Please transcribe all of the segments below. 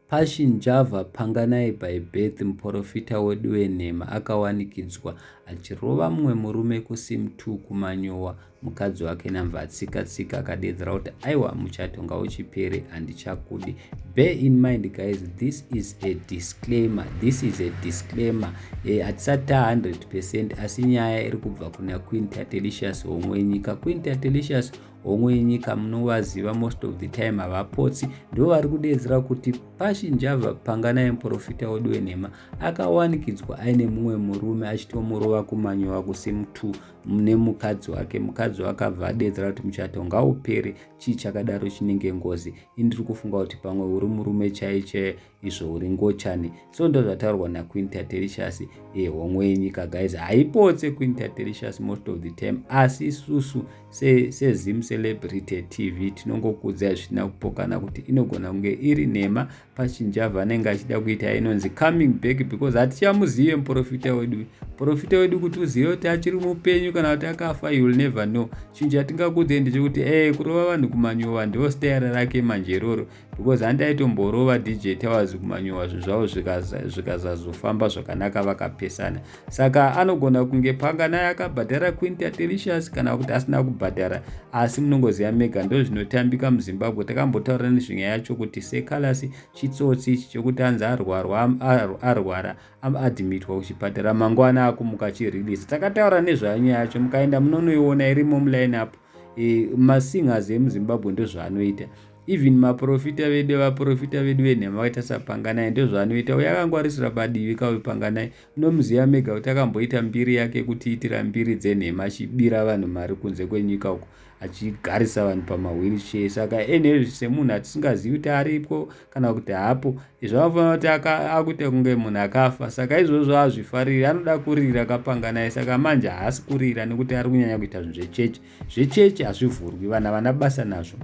Passion Java Panganayi by Birth muporofita wedu wenhema akawanikidzwa achirova mumwe murume kuSim2 kuManyowa mukadzi wake Namvatsika Tsika akadeedzera kuti aiwa muchato ngauchipere handichakudi bear in mind guys this is a disclaimer this is a disclaimer eh, hatisati ta 100 percent asi nyaya iri kubva kuna Queen Tatelicious homwe nyika Queen Tatelicious hongu inyika munovaziva most of the time havapotsi ndo vari kudeedzera kuti pashi njava panganai muprofita wedu wenhema akawanikidzwa aine mumwe murume achitomurova kumanyowa kusimu2 nemukadzi wake mukadzi wakabva adeedzera kuti muchato ngaupere chii chakadaro chinenge ngozi indiri kufunga kuti pamwe uri murume chaiche izvo uri ngochani so ndozvataurwa naqueen tatelicious e eh, homwe yenyika guys haipotse queen tatelicious most of the time asi isusu sezim se celebrity tv tinongokudzai zvisina kupokana kuti inogona kunge iri nhema pachinjava anenge achida kuita inonzi coming back because hatichamuzive muprofita wedu muprofita wedu kuti uzive kuti achiri mupenyu kana kuti akafa you will never know chinhu chatingakudzei ndechekuti e kurova vanhu kumanyuva ndivo stayara rake manje iroro because handaitomborowa dj towers kumanyowa zvizvavo zvikazazofamba zvakanaka vakapesana saka anogona kunge panga naye akabhadhara quinta delicious kana kuti asina kubhadhara asi munongoziva mega ndo zvinotambika muzimbabwe takambotaura nezvenyaya yacho kuti sekalasi chitsotsi ichi chokuti anzi arwara aadmitwa kuchipatara mangwana akumuka chirelease takataura nezvayo nyaya yacho mukaenda munonoiona irimo muline up e, masingers emuzimbabwe ndozvaanoita even maprofita vedu vaprofita vedu venhema vakaita sapanganai ndozvaanoita uye akangwarisira padivi kauyu panganai munomuziva mega kuti akamboita mbiri yake kutiitira mbiri dzenhema achibira vanhu mari kunze kwenyika uko achigarisa vanhu pamawheelchair saka nhl semunhu atisingazivi kuti aripwo kana kuti hapo izvo anofanira kuti akuita kunge munhu akafa saka izvozvo azvifariri anoda kurira kapanga naye saka manje haasi kurira nekuti ari kunyanya kuita zvinhu zvechechi zvechechi hazvivhurwi vana vana basa nazvo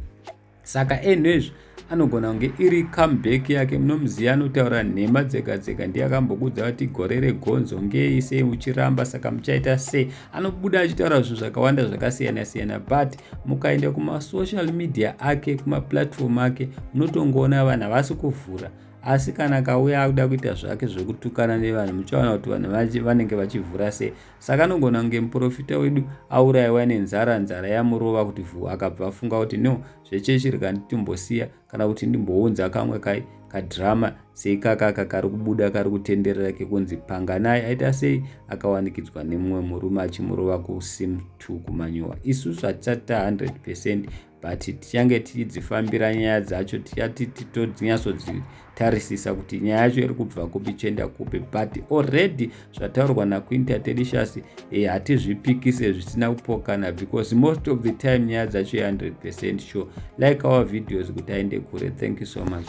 saka enhu ezvi anogona kunge iri comeback yake munomuziva anotaura nhema dzega dzega ndiye akambokudza kuti gore regonzo ngei sei uchiramba saka muchaita sei anobuda achitaura zvinhu zvakawanda zvakasiyana siyana but mukaenda kumasocial media ake kumaplatform ake munotongoona vanhu havasi kuvhura asi kana kauya akuda kuita zvake zvekutukana nevanhu muchaona kuti vanhu vachi vanenge vachivhura sei saka anogona kunge muprofita wedu aurayiwa nenzara nzara yamurova kuti vhu akabva afunga kuti no zvechechi rikanditumbosiya kana kuti ndimbounza kamwe kai kadhirama seikaka aka kari kubuda kari kutenderera kekunzi panganai aita sei akawanikidzwa nemumwe murume achimurova kusim t kumanyowa isusu hatisati ta 100 percent but tichange tichidzifambira nyaya dzacho tichati titodzinyatsodzi tarisisa kuti nyaya yacho iri kubva kupi chienda kupi but already zvataurwa naquinta tedishas eh, hatizvipikise zvisina kupokana because most of the time nyaya dzacho 100 percent sure like our videos kuti aende kure thank you so much